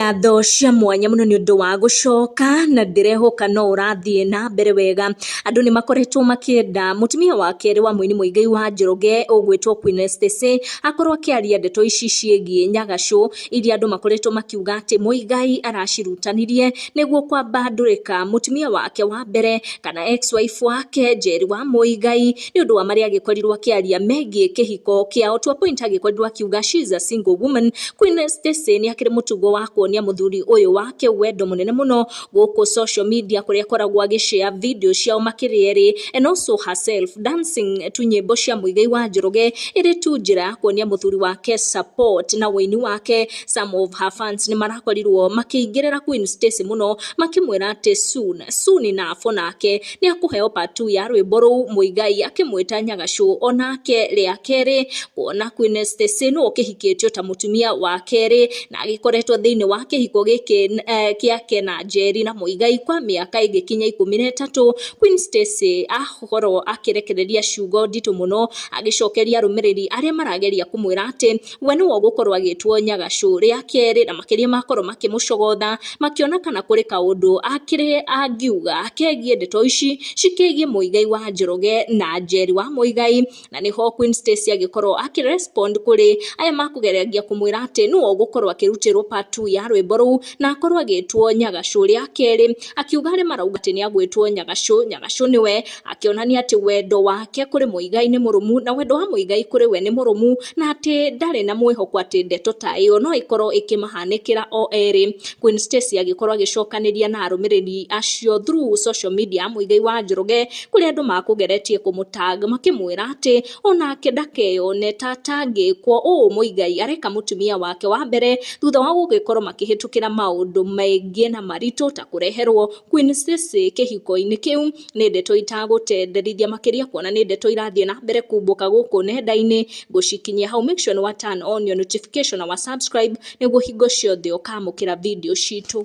ngatho cia mwanya mũno nĩ ũndũ wa gũcoka na ndĩrehoka no ũrathiĩ na mbere wega. Andũ nĩ makoretwo makĩenda mũtumia wa kerĩ wa mũini Mũigai wa Njoroge ũgwĩtwo Queen Estacey akorwo akĩaria ndeto ici ciĩgiĩ Nyagacũ iria andũ makoretwo makiuga atĩ Mũigai aracirutanirie nĩguo kwambandũrĩka mũtumia wake wa mbere kana ex wife wake Njeri wa Mũigai. nĩ ũndũ wa marĩa agĩkorirwo akĩaria megiĩ kĩhiko kĩao. To a point agĩkorirwo akiuga she is a single woman. Queen Stacy nĩ akĩrĩ mũtugo wa kuonia mũthuri ũyũ wake wendo mũnene mũno gũkũ social media kũrĩa akoragwo agĩ share video ciao makĩrĩ erĩ and also herself dancing tu nyĩmbo cia Muigai wa Njoroge ĩrĩ tu njĩra ya kuonia mũthuri wake support na ũini wake. Some of her fans nĩ marakorirwo makĩingĩrĩra Queen Stacy mũno makĩmwĩra atĩ soon, soon enough o nake nĩ akũheo part two ya rwĩmbo rũu Muigai akĩmwĩta Nyagacũ. O nake rĩa kerĩ kuona Queen Stacy nũ ũkĩhikĩtio ta mũtumia wa kerĩ na agĩkoretwo thĩinĩ wa kĩhiko gĩkĩ eh, gĩake na Njeri na Muigai kwa mĩaka ĩngĩkinya ikũmi na ĩtatũ. Queen Stacy akorwo akĩrekereria ciugo nditũ mũno agĩcokeria arũmĩrĩri arĩa marageria kũmwĩra atĩ We nĩwe ũgũkorwo agĩtwo nyagacũ rĩa kerĩ, na makĩria makorwo makĩmũcogotha, makĩona kana kũrĩ kaũndũ akĩrĩ angiuga kegiĩ ndeto ici cikĩgiĩ Mũigai wa Njoroge na Njeri wa Mũigai, na nĩho Queen Stacy agĩkorwo akĩ respond kũrĩ aya makũgeragia kũmwĩra atĩ nĩwe ũgũkorwo akĩrutĩrwo part two ya rwĩmbo rũu, na akorwo agĩtwo nyagacũ rĩa kerĩ, akiuga arĩa marauga atĩ nĩagwĩtwo nyagacũ, nyagacũ nĩwe. akĩonania atĩ wendo wake kũrĩ Muigai nĩ mũrũmu na wendo wa Muigai kũrĩ we nĩ mũrũmu na atĩ ndarĩ na mwĩhoko atĩ ndeto ta ĩyo no ĩkorũo ĩkĩmahanĩkĩra o erĩ. Queen Stacy agĩkorũo agĩcokanĩria na arũmĩrĩri acio through social media ya Muigai wa Njoroge kũrĩa andũ makũgeretie kũmũtag makĩmwĩra atĩ o nake ndakeyone ta atangĩkwo ũũ Muigai areka mũtumia wake wa mbere thutha wa gũgĩkorũo makĩhĩtũkĩra maũndũ maingĩ na maritũ ta kũreherũo Queen Stacy kĩhiko-inĩ kĩu. nĩ ndeto itagũtenderithia makĩria kuona nĩ ndeto irathiĩ na mbere kumbũka gũkũ nenda-inĩ ngũcikinyia hau. Make sure nĩ wa turn on your notification na wa subscribe nĩguo hingo ciothe ũkamũkĩra video citũ.